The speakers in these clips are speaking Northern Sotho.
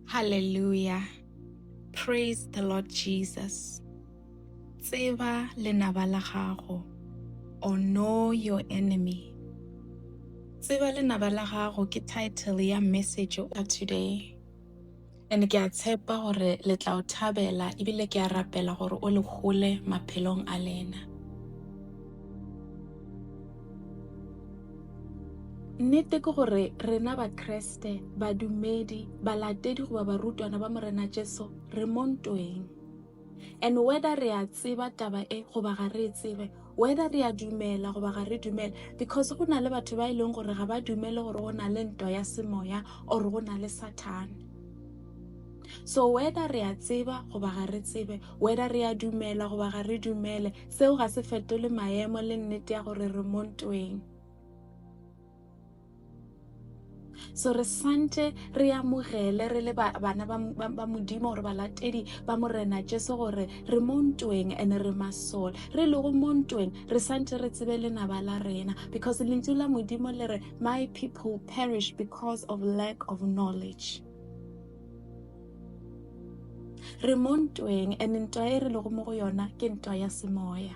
Hallelujah. Praise the Lord Jesus. Tseba lenaba la gago or know your enemy. Tseba lenaba la gago ke title ya message today. And ke a tshepa gore le tla o thabela ebile ke a rapela gore o le hole maphelong a lena. Nnete ke gore rena Bakreste, badumedi, balatedi goba barutwana ba Morena Jesu re mo ntweng. and whether re a tseba taba e goba ga re e tsebe whether re a dumela goba ga re dumele because go na le batho ba e leng gore ga ba dumele gore go na le nto ya semoya or go na le sathane so whether re a tseba goba ga re tsebe whether re a dumela goba ga re dumele seo ga se fetole maemo le nnete ya gore re mo ntweng so re swantše re amogele re le bana ba modimo gore balatedi ba morena jesu gore re mo ntweng and re masole re lego mo ntweng re swantše re tsebe lenaba la rena because lentšu la modimo le re my people perish because of lack of knowledge re mo ntweng and ntwa e re lego mo go yona ke ntwa ya semoya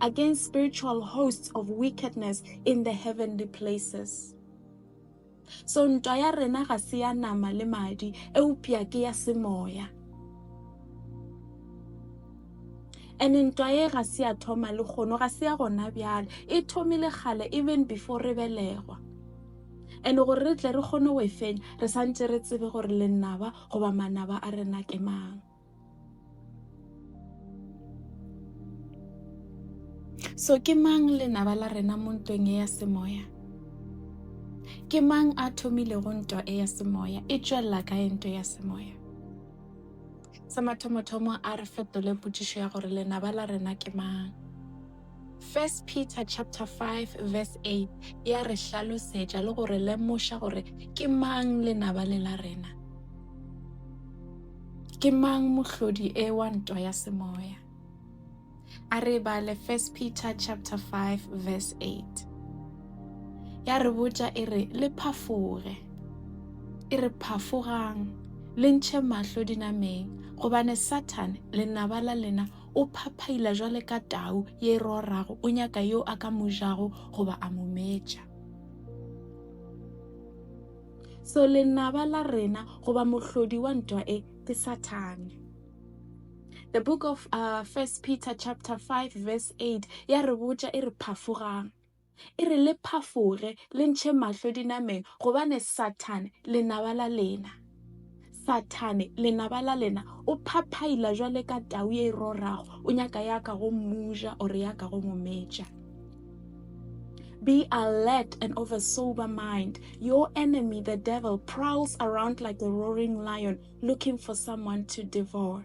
against spiritual hosts of wickedness in the heavenly places. So ntwa ya rena ga se ya nama le madi, eupša ke ya semoya. and ntwa ye ga se ya thoma le kgono ga se ya gona bjale e thomile kgale even before re belegwa and gore re tle re kgone go e fenya re santse re tsebe gore lenaba goba manaba a rena ke mang So ke mang lenaba la rena mo ntweng e ya semoya? Ke mang a thomilego ntwa e ya semoya? E tšwelela kae ntwa ya semoya? Sa mathomothomo a re fetole potšišo ya gore lenaba la rena ke mang? First Peter chapter 5 verse 8 ya re hlalosetša le go re lemoša gore ke mang lenaba le la rena. Ke mang mohlodi e wa ntwa ya semoya? A re bale First Peter chapter 5 verse 8. Ya re botša e re le phafoge. E re phafogang le ntšhe mahlo dinameng gobane Satan lenaba la lena O phaphaila jwale ka tau ye e rorago, o nyaka yo a ka mo jago goba a mo metša. So lenaba la rena goba mohlodi wa ntwa e ke Sathane. The book of uh, First Peter chapter 5 verse 8 ya re botša e re phafogang. E re le phafoge, le ntšhe mahlo dinameng, gobane Sathane, lenaba la lena, Sathane, lenaba la lena, o phaphaila jwale ka tau ye e rorago, o nyaka ya ka go mmuja ore ya ka go mometša. Be alert and of a sober mind. Your enemy, the devil, prowls around like a roaring lion looking for someone to devour.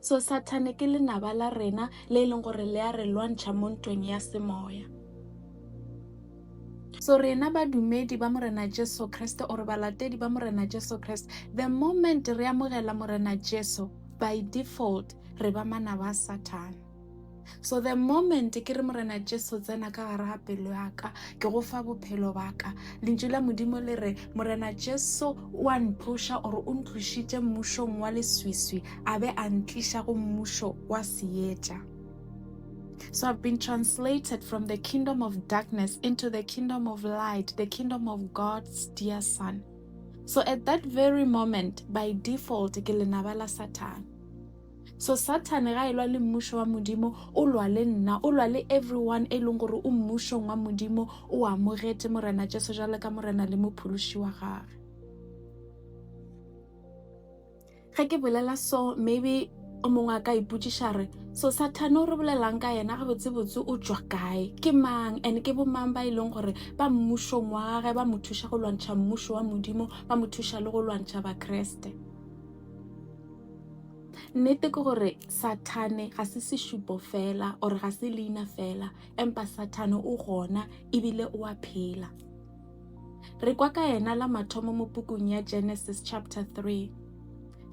so sathane ke lenaba la rena le e leng gore le a re lwantšha mo ntweng ya semoya so rena badumedi ba morena jesu kreste ore balatedi ba morena jesu kreste the moment re amogela morena jesu by default re ba manaba a sathane so the moment ke re morena jesu tsena ka gare ga pelo yaka ke go fa bophelo baka lentšu la modimo le re morena jesu o a ntloša ore o ntlošitše mmušong wa leswiswi a be a ntliša go mmušo wa seetša So I've been translated from the kingdom of darkness into the kingdom of light, the kingdom of God's dear son. So at that very moment, by default, ke lenaba la Satan. So Sathane ga e lwa le mmušo wa Modimo, o lwa le nna, o lwa le everyone e leng gore o mmušong wa Modimo, o amogete Morena Jesu jalo ka Morena le Mophološi wa gage. Ge ke bolela so, maybe o mongwe a ka ipotsiša re so sathane o re bolelang ka yena gabotsebotse o tswa kae ke mang and ke bomang ba e leng gore ba mmušong wa gage ba mo thuša go lwantšha mmušo wa modimo ba mo thuša le go lwantšha bakreste Nnete ke gore Sathane ga se sešupo fela or ga se leina fela, empa Sathane o gona ebile o a phela. Re kwa ka yena la mathomo mo pukung ya Genesis chapter 3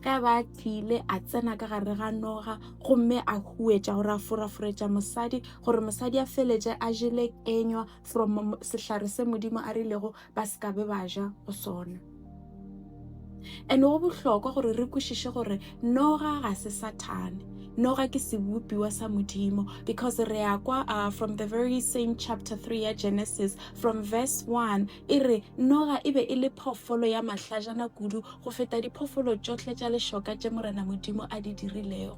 ge ba tlile a tsena ka gare ga noga gomme a huetša gore a foraforetša mosadi gore mosadi a feletse a jele kenywa from sehlare se modimo a rilego ba se ka be ba ja go sona and go bohlokwa gore re kwešiše gore noga ga se sathane noga ke sebopiwa sa modimo because re ya kwa uh, from the very same chapter 3 ya genesis from verse 1 e re noga e be e le phoofolo ya mahlajana kudu go feta diphoofolo tšohle tša lešoka tše morena modimo a di dirilego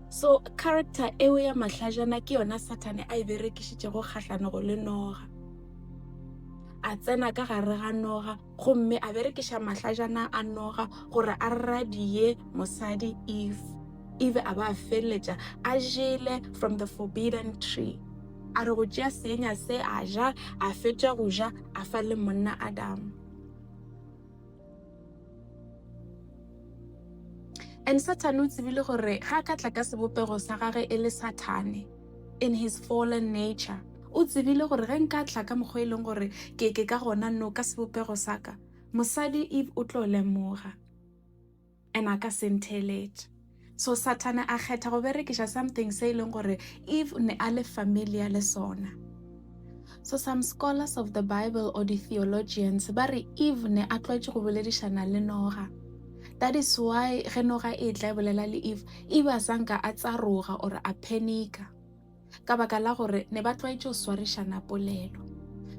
so character eo ya mahlajana ke yona sathane a e berekišitšego kgahlanego le noga a tsena ka gare ga noga gomme a berekiša mahlajana a noga gore a radie mosadi eve eve a ba a feleletša a jele from the forbidden tree a re go tšea seenya se a ja a fetša go ja a fa le monna adamu And Satan o tsebile gore ga ka tla ka sebopego sa gage e le Sathane in his fallen nature. O tsebile gore ge nka tla ka mokgwa e leng gore ke ke ka gona no ka sebopego sa ka, mosadi Eve o tlo lemoga and a ka sentheletša. So Sathane a kgetha go berekiša something se e leng gore Eve o ne a le familiar le sona. So some scholars of the Bible or the theologians ba re Eve ne a tlwaetše go boledišana le Noga. That is why ge Noga e tla e bolela le Eve, Eve a sanka a tsaroga or a phenika. ka baka la gore ne ba tlwaetše go swarišana polelo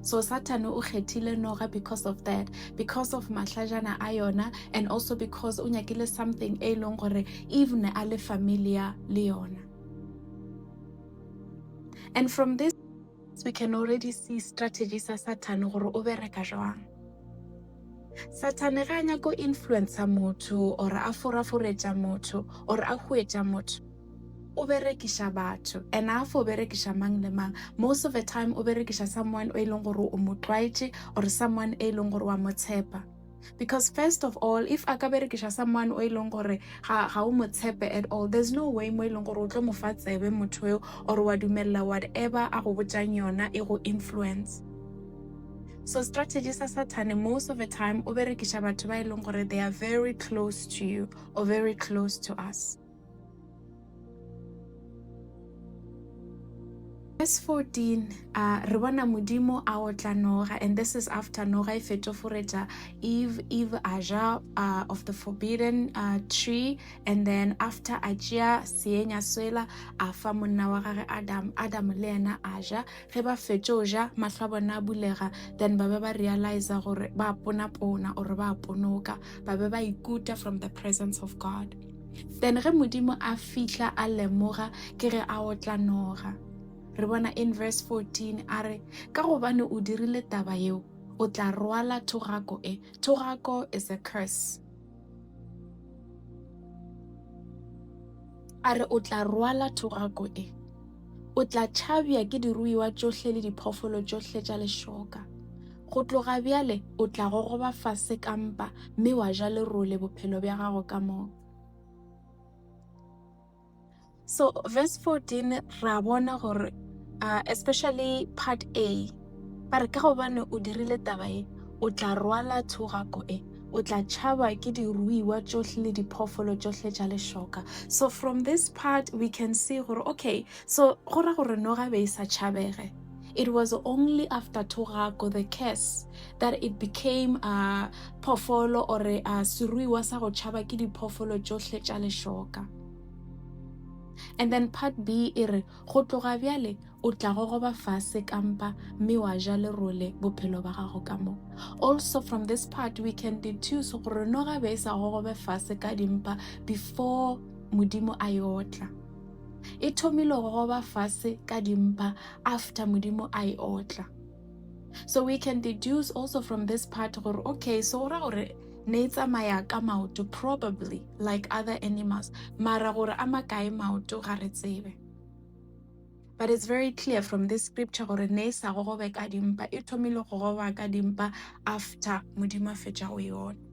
so satane o kgethile noga because of that because of mahlajana a yona and also because o nyakile something e leng gore even a le familiar le yona and from this we can already see strategy sa satane gore o bereka jwang satane ga a nyako influencer motho or a foraforetša motho or a huetša motho o berekiša batho and a fo berekiša mang le mang most of the time o berekiša someone o e leng gore o mo tlwaetše or someone e leng gore wa mo tshepa because first of all if a ka berekiša someone o e leng gore ga o mo tshepe at all there's no way mo e leng gore o tlo mo fa tsebe motho eo or wa dumelela whatever a go botšang yona e go influence so strategy sa sathane most of the time o berekiša batho ba e leng gore they are very close to you or very close to us Verse 14, uh, re bona modimo a otla noga and this is after noga e fetoforetša eve eve a ja uh, of the forbidden uh, tree and then after a tšea seenya swela a fa monna wa gage adam adam le yena a ja ge ba fetšo ja mahlo a bona a bulega then ba be ba realiza gore ba ponapona or ba ponoka ba be ba ikuta from the presence of god then ge modimo a fihla a lemoga ke ge a otla noga re bona in verse 14 a re ka gobane o dirile taba yeo o tla rwala thogako e thogako is a curse a re o tla rwala thogako e o tla tšhabja ke diruiwa tšohle le diphoofolo tšohle tša lešoka Go tloga bjale o tla gogoba fase ka mpa mme wa ja lerole bophelo bja gago ka moka. So verse 14 ra bona gore uh, especially part A ba re ka gobane o dirile taba e o tla rwala thogako e o tla tšhaba ke diruiwa tšohle le diphoofolo tšohle tša lešoka so from this part we can see gore okay so go ra gore noga be e sa tšhabege It was only after Thogago the curse that it became a phoofolo or a seruiwa sa go tšhaba ke diphoofolo tšohle tša lešoka. And then part B e re go tloga bjale o tla gogoba fase kampa mme wa ja lerole bophelo ba gago ka mo also from this part we can deduce gore no gabe e sa gogobe fase ka dimpa before modimo a yotla e thomile go goba fase ka dimpa after modimo a e otla so we can deduce also from this part gore okay so o ra gore ne e tsamaya ka maoto probably like other animals mara gore a makae maoto ga re tsebe but it's very clear from this scripture gore ne e sa gogobe ka dimpa e thomile go gogoba ka dimpa after modimo a fetša go yona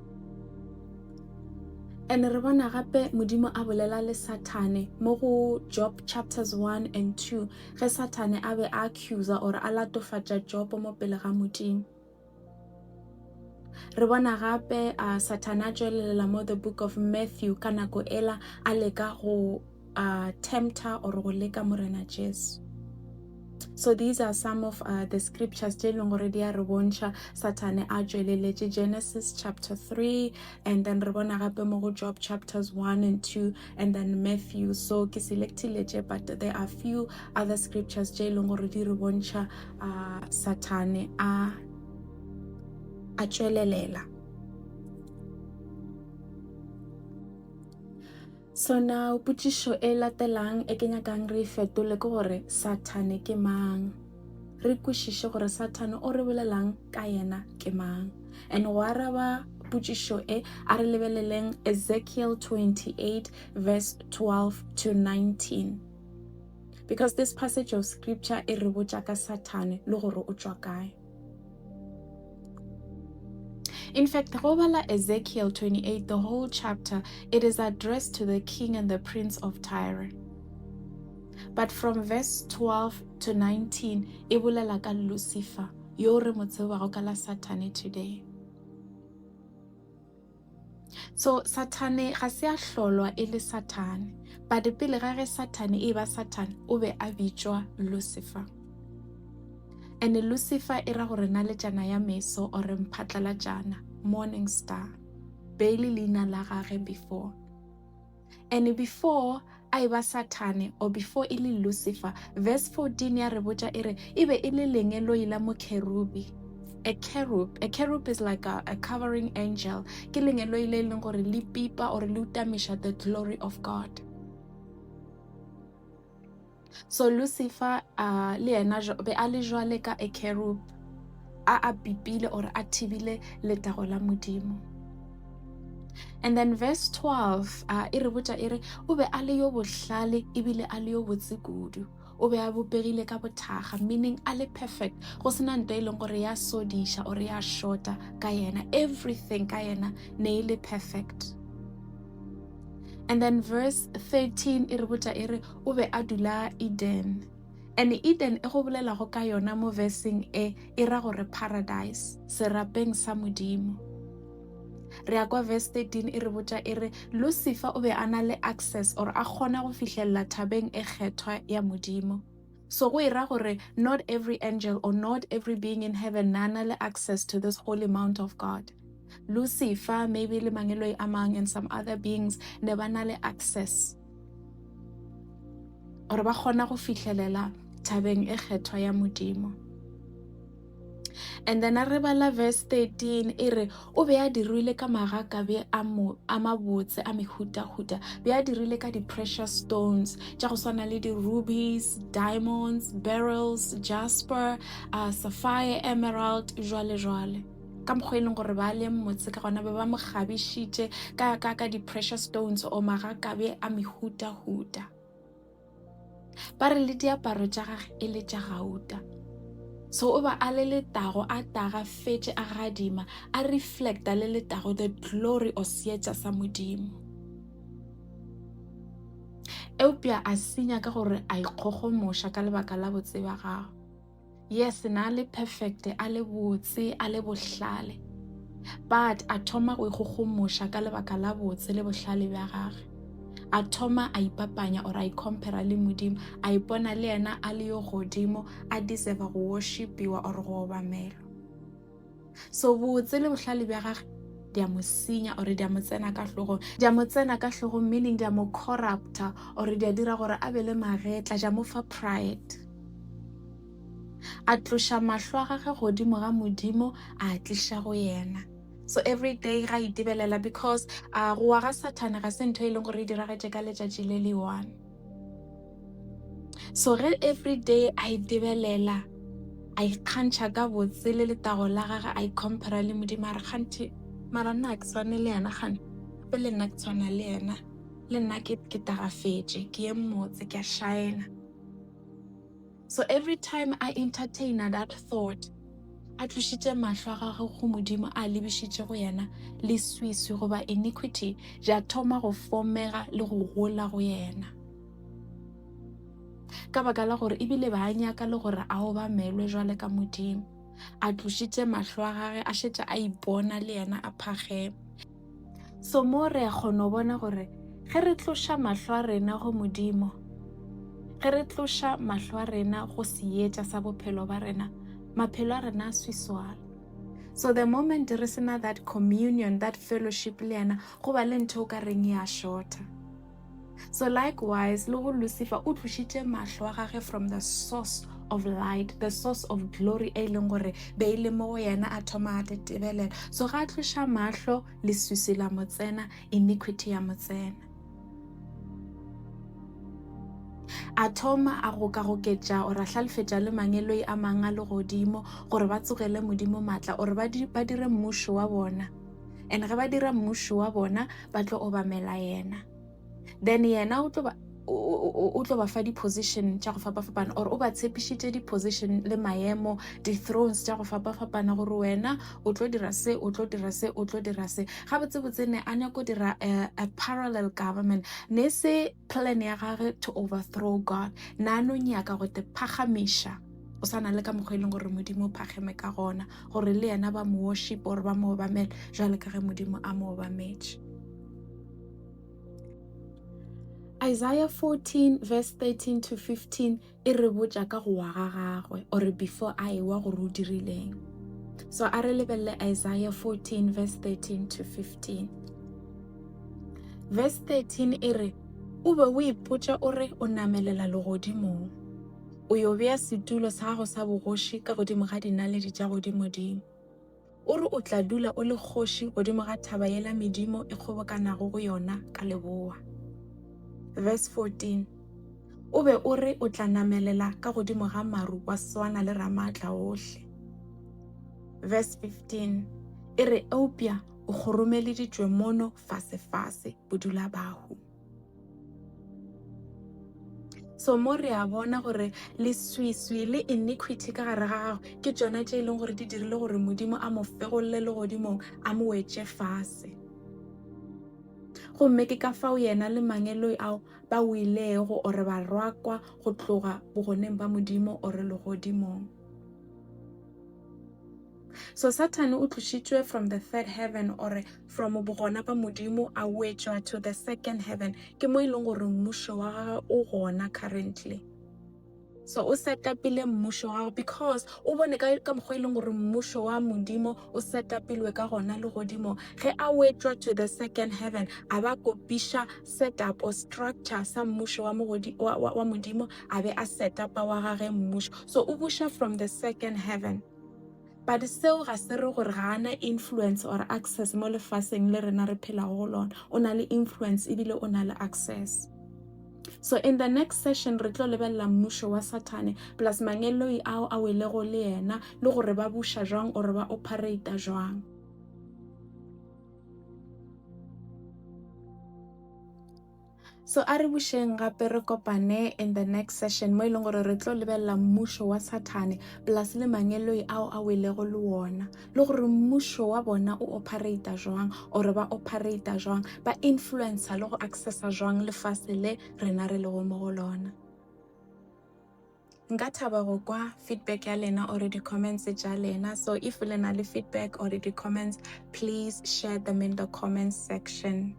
and re bona gape modimo a bolela le sathane mo go job chapters 1 and 2 ge sathane a be a accusa or a latofatša job mo pele ga modimo re bona gape a sathane a tšwelelela mo the book of matthew ka nako ela a leka go uh, tempter or go leka morena jesu so these are some of uh, the scriptures tse e leng gore di a re bontšha satane a tšweleletše genesis chapter 3 and then re bona gape mo go job chapters 1 and 2 and then matthew so ke selectile tše but there are few other scriptures tse e leng gore di re bontšha uh, satane a a tšwelelela Sona potšišo e latelang e ke nyakang re e fetole ke gore Sathane ke mang. Re kwešiše gore Sathane o re bolelang ka yena ke mang. And go araba potšišo e, a re lebeleleng Ezekiel 28 verse 12 to 19. Because this passage of scripture e re botša ka Sathane le gore o tšwa kae. In fact, go bala Ezekiel 28, the whole chapter, it is addressed to the king and the prince of Tyre. But from verse 12 to 19, e bolela ka Lucifer, yo re mo tsebago ka la Satane today. so sathane ga se a hlolwa e le sathane but pele ga ge sathane e ba sathane o be a bitšwa lucifer and lucifer e ra gore na letšana ya meso ore mphatlalatšana morning star beile leina la gage before And before a e ba sathane or before e le lucifer verse 14 ya re botša e re e be e le lengeloi la mokherubi a cherub a cherub is like a, a covering angel ke lengeloi le e leng gore le pipa or le utamiša the glory of god So Lucifer uh, le yena be a le jwale ka a kerub a a pipile or a thibile letago la modimo and then verse 12 uh, e re botša e re o be a le yo bohlale ebile a le yo botse kudu o be a bopegile ka bothaga meaning a le perfect go sena nto e leng gore ya sodiša or ya shorta ka yena everything ka yena ne e le perfect and then verse 13 e re botša e re o be a dula eden ene eden e go bolelago ka yona mo veseng e e ra gore paradise serapeng sa modimo re ya kwa verse 13 e re botša e re lucifer o be a na le access or a kgona go fihlelela thabeng e kgethwa ya modimo so go e ra gore not every angel or not every being in heaven na na le access to this holy mount of god lucifer maybe le mangeloi a mang and some other beings ne ba na le access gore ba kgona go fihlelela thabeng e kgethwa ya modimo and then a re bala verse 13 e re o be a dirile ka magaka be a mabotse a mehutahuta be a dirile ka di-precious stones tša go swana le di-rubies diamonds barrels jasper uh, sapphire emerald jwale jwale ka mokgwa e leng gore ba leng motse ka gona ba ba mo kgabišitše ka ka ka di-pressure stones o magakabe a mehutahuta ba re le diaparo tša gage e le tša gauta so o ba a le letago a taga fetše a gadima a reflecta le letago the glory of seetša sa modimo eupša a senya ka gore a ikgogomoša ka lebaka la botseba gago yes na le perfect a le botse a le bohlale but a thoma go ikgogomoša ka lebaka la botse le bohlale bja gage a thoma a ipapanya or a icompara le modimo a ipona le yena a le yo godimo a deserva go worshipiwa or go obamelwa so botse le bohlale bja gage di a mo senya ore di a mo tsena ka tlhogong di a mo tsena ka tlhogong meaning di a mo corrupta ore di a dira gore a be le magetla ja mo fa pride a tloša mahlo a gage godimo ga modimo a tliša go yena so every day ga itebelela because a gowa ga sathane ga se ntho e leng gore e diragetše ka letšatši le le one so ge every day a e debelela a ikgantšha ka botse le letago la gage a icompara le modimo a re kganthe mara nna ke tshwane le yena gane gape le nna ke tshwana le yena le nna ke tagafetše ke ye mmotse ke a shaena So every time I entertainer that thought, a tlošitše mahlo a gagwe go Modimo a lebišitše go yena le swiswi goba iniquity ja thoma go fomega le go gola go yena ka baka la gore ebile ba a nyaka le gore a obamelwe jwale ka Modimo a tlošitše mahlo a gage a šetša a ipona le yena a phagema So mo re a kgona go bona gore ge re tloša mahlo a rena go Modimo, ge re tloša mahlo a rena go seetša sa bophelo ba rena, maphelo a rena a swiswala. So the moment re sena that communion, that fellowship le yena, go ba le ntho o ka reng ya shorta. So likewise, le go Lucifer o tlošitše mahlo a gage from the source of light the source of glory e leng gore be e le mo go yena a thoma a tetebelela so ga a tloša mahlo leswiswi la mo tsena iniquity ya mo tsena a thoma a gokagoketša ore a hlalefetša le mangeloi a mangwe a legodimo gore ba tsogele modimo maatla ore ba dire mmušo wa bona and ge ba dira mmušo wa bona ba tlo obamela yena then yena o tlo ba o tlo ba fa di-position tša go fapa-fapana or o ba tshepišitše di-position le maemo di-thrones tša go fapa-fapana gore wena o tlo dira se o tlo dira se o tlo dira se gabotsebotse ne a nyako dira eh, a parallel government ne se plan ya gage to overthrow god na no nyaka go te phagamiša o sa na le ka mokgwa e leng gore modimo o phageme ka gona gore le yena ba mo worship gore ba mo obamele jwale ka ge modimo a mo obametše isaiah 14 verse 13 to 15 e re botša ka go wa ga gagwe ore before a ewa gore o dirileng so a re lebelele isaiah 14 verse 13 to 15 verse 13 e re o be o ipotša o re o namelela legodimong o yo bea setulo sa gago sa bogoši ka godimo ga dinaledi tša godimodimo O re o tla dula o le kgoši godimo ga thaba yela medimo e kgobokanago go yona ka leboa. Verse 14 O be o re o tla namelela ka godimo ga maru wa swana le Ramaatla ohle. Verse 15 e re eupša o kgoromeleditšwe mono fasefase bodulabahu. so mo re a bona gore leswiswi le iniquity ka gare ga gago ke tsona tse e leng gore di dirile gore modimo a mo fegolole le godimong a mo wetse fase gomme ke ka fao yena le mangeloi ao ba wilego ore ba rwakwa go tloga bogoneng ba modimo ore legodimong So Sathane o tlošitšwe from the third heaven or from bogona ba Modimo a wetšwa to the second heaven. Ke mo e leng gore mmušo wa gagwe o gona currently. So o setapile mmušo wa gagwe because o bone ka ka mokgwa e leng gore mmušo wa Modimo o setapilwe ka gona le godimo. Ge a wetšwa to the second heaven a ba kopiša setup or structure sa mmušo wa, mogodi, wa, wa, wa Modimo a be a setapa wa gage mmušo. So o buša from the second heaven. but seo ga se re gore ga ana influence or access mo lefaseng le rena re phelago go lona o na le influence ebile o na le access so in the next session re tlo lebelela mmušo wa sathane plus mangeloi ao a welego le yena le gore ba buša jwang or ba operata jwang So a re bušeng gape re kopane in the next session mo e leng gore re tlo lebelela mmušo wa Sathane plus le mangeloi ao a welego le wona le gore mmušo wa bona o operata jwang or ba operata jwang ba influencer le go accessa jwang lefase le rena re lego mo go lona. Nka thaba go kwa feedback ya lena or di-comments tša lena. So if le na le feedback or di-comments, please share them in the comments section.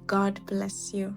God bless you.